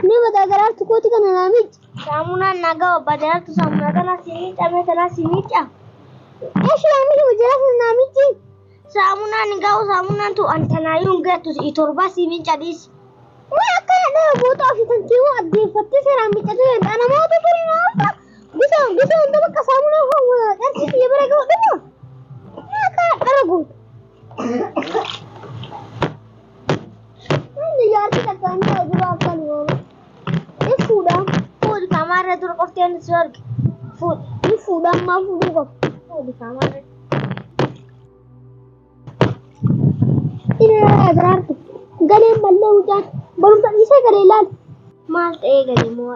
Ni badaa garaartu kooti kana naa miicca. Saamunaan nagaa obba jalaattu saamunaa kana si miicca mee tanaa si miicca. Eshi naa miicca jalaatu naa miicci. Saamunaan hin gahu saamunaan tu an tanaayyuu hin gattu si'i torbaa si miicca dhiisi. Maa akkana dhaa boota ofii kan keewwa addeeffattee seeraan miiccatu danda'a namoota turi naa ulfa. Bisa bisa hunda bakka saamunaa hawwa dharsi kiyya bira ga'u dhufu. Maa akkana dhara gootu. Inni jaarsi takka inni ta'u dura akka nu oola. Ni fuudha. Fuudhi kaamaa irra dura qoftee inni si arge. Fuudhi. Ni fuudha ammaa fuudhuu qaba. Fuudhi kaamaa irra. Inni irraa jiraarti. Galeen mallee mucaan barumsa dhiisee galee ilaali. Maal ta'ee gadi moo?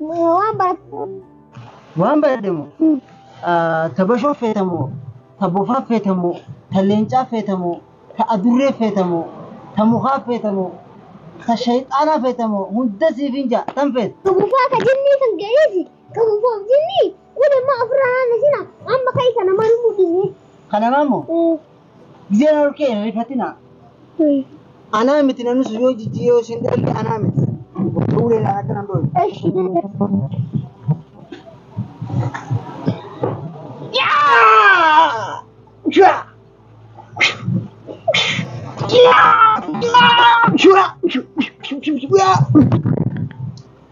Waan barattu. Waan barattu moo? Ta bashoo feeta moo? Ta bofaa feeta moo? Ta leencaa feeta moo? Ta adurree feeta moo? Ta mukaa feeta moo? Ta shayxaanaa feeta moo? Hunda siif hin ja'a. Tan feeta. Ka bofaa ka jinnii kan ga'eesi. Ka bofaaf jinnii. Kun immoo ofirraa haala sina. Amma ka'i kana maal mudhisne. Kanamaa moo? Gizee na dhorkee hin rifatina. Anaa miti namni sun yoo jijjiiree yoo isheen dhalalle anaa miti. Gocha uleedhaan akka nan dhoobe. Eshi dada. Shura! Shura! Shura!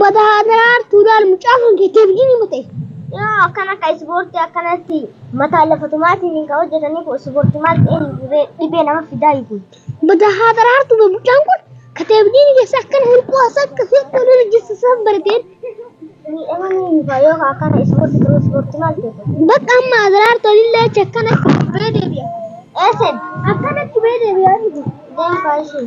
Bada hadaar tuulaal mucaa kan keeteef gini mate. Yoo akkana ka ispoortii akkanatti mataa lafa tumaatiin ka hojjetanii kun ispoortii maal ta'een dhibee nama fidaa hiikun. Bada hadaar tuube mucaan kun kateef gini keessa akkana hirkoo as akka hirkoo lolu jessisaan barateen. Miidhama ni hiika yoo ka akkana ispoortii ta'u ispoortii maal ta'e. Bakka amma hadaar tolillee achi akkana bee deebi'a. Eesen Akkana achi bee deebi'a. deemkaa ishee.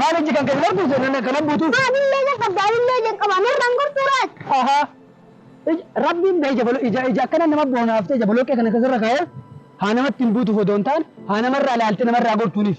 Maal ijji kan keessa argu seenan akkana buutu. Maaf illee ija qabda anillee ija qaba narraan gortuu laata. Aha. Ij- Rabbiin bee ija bolo- ija ija akkana nama boonaaftee ija boloqqee kana keessarra kaa'ee haa namatti hin buutuuf odoo hin taane haa namarraa ilaaltee namarraa gortuuniif.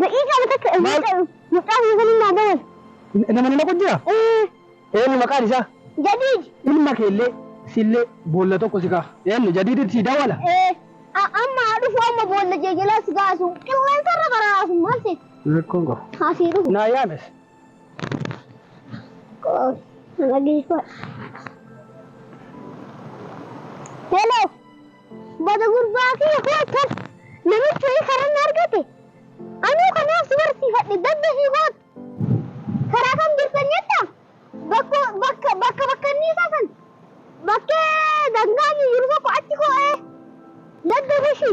Daqiiqaa takka hin Maal? ta'u. Mucaa kana saniin naa dawal. Nama nama qojjira? Eh, Eenyu maqaan isaa? Jadiid. Ilma keellee sillee boolla tokko si ka'a. Eenyu jadiidit si dawala? Eh, a- amma haa dhufu amma boolla jee jalaa si kaasu. Qilleensa irra karaa haasu maal seeti? Rakkoon qabu. Haa sii dhufu. Naa yaames. Qoos. Dhageeffadha. Hello. Bada gurbaa kiyya koo akkas namichi wayii karan argate anuu kanaaf si barsiifadhe dadda fi koot karaa kam jirtan jetta bakka bakka bakka bakka inni isaa san bakkee dangaa jiru tokko achi koo'ee dadda bishi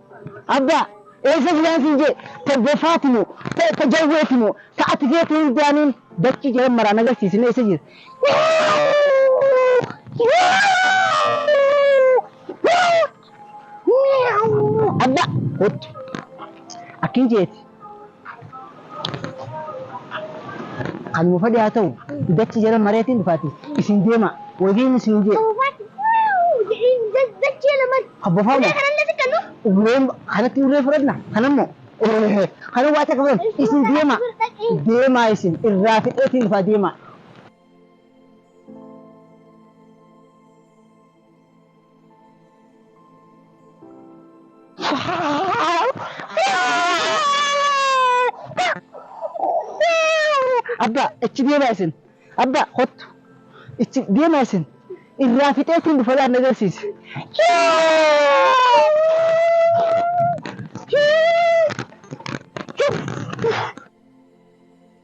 Abbaa! Eessa jiraa siin jee? Ta bofaati moo? Ta, ta jawweeti moo? Ta ati feetu hundaaniin dachii jalan maraan agarsiisi mee eessa jira? Abbaa! Kottu. Akkin jeeti. Kan nu fedhe haa ta'u dachi jala mareetiin dhufaati isin deema wajiin isin jee. Habbafaama. Urree kanatti urree fudhatna kanammoo kana waa takka fudhan isin deema deemaa isin irraa fixeetiin dhufaa deemaa. Abbaa itti deemaa isin. Abbaa kottu itti deemaa isin. Irraa fixee ittiin dhufa laata agarsiisi.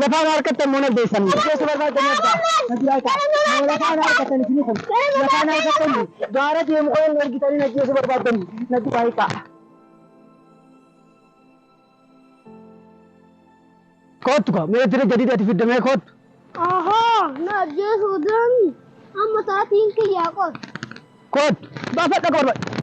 Lafa ana harkattan moo nagdeessan? Nagdeessu barbaadda nagdaa. Nagdaa kaa. Moo lafa ana harkattan isini kun? Lafa ana harkattan gaara deemu kana hin argitanii nagdeessu barbaaddan nagdaa hikaa. Koottu kaa mee jira jadidi ati fidda mee koottu. Ahoo na ajjeesuu deemi amma sa'aatiin kiyyaa qotu. Koottu baafadha akka barbaadda.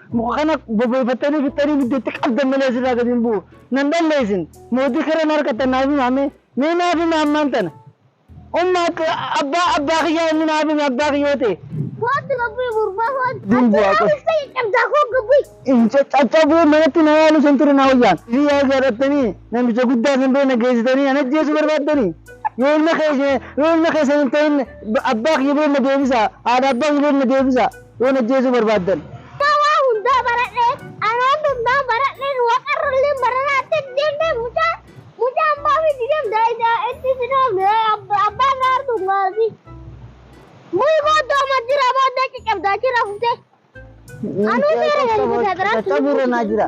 Muka kana bobeeffattanii fixxanii ibidda itti qabdan malee asirraa gadi hin bu'u. Nan dhalle isin. Mootii kara na harkattan naaf himaa mee. Mee naaf himaa ammaan tana. Umma akka abbaa abbaa kiyyaa inni naaf hime abbaa kiyyoo ta'e. Kootti gabbii gurbaa kootti. Dimbu Ati haqa. raawwista caccabdaa koo gabbii. Hin caccabuu manatti na yaalu san ture na wayyaan. Isin yaa gaadhattanii namicha guddaa san bira na geessitanii ana ajjeesuu barbaaddanii. Yoo ilma keessa yoo ilma keessa hin ta'in abbaa kiyya bira na deebisaa. Haadha abbaa kiyya bira na deebisaa. Yoo na ajjeesuu barbaaddan. Yaa waa hundaa baradhee anaan hundaa baradheen waqarralleen baranaa itti deemtee mucaa mucaa abbaa fi digam daa'ida itti sidoomne abbaa gaartuu gaartii muyi booddoo majjira booddee caccabdaa jira fuftee anuu seera galii fudhaa biraa caccabuu irra naa jira.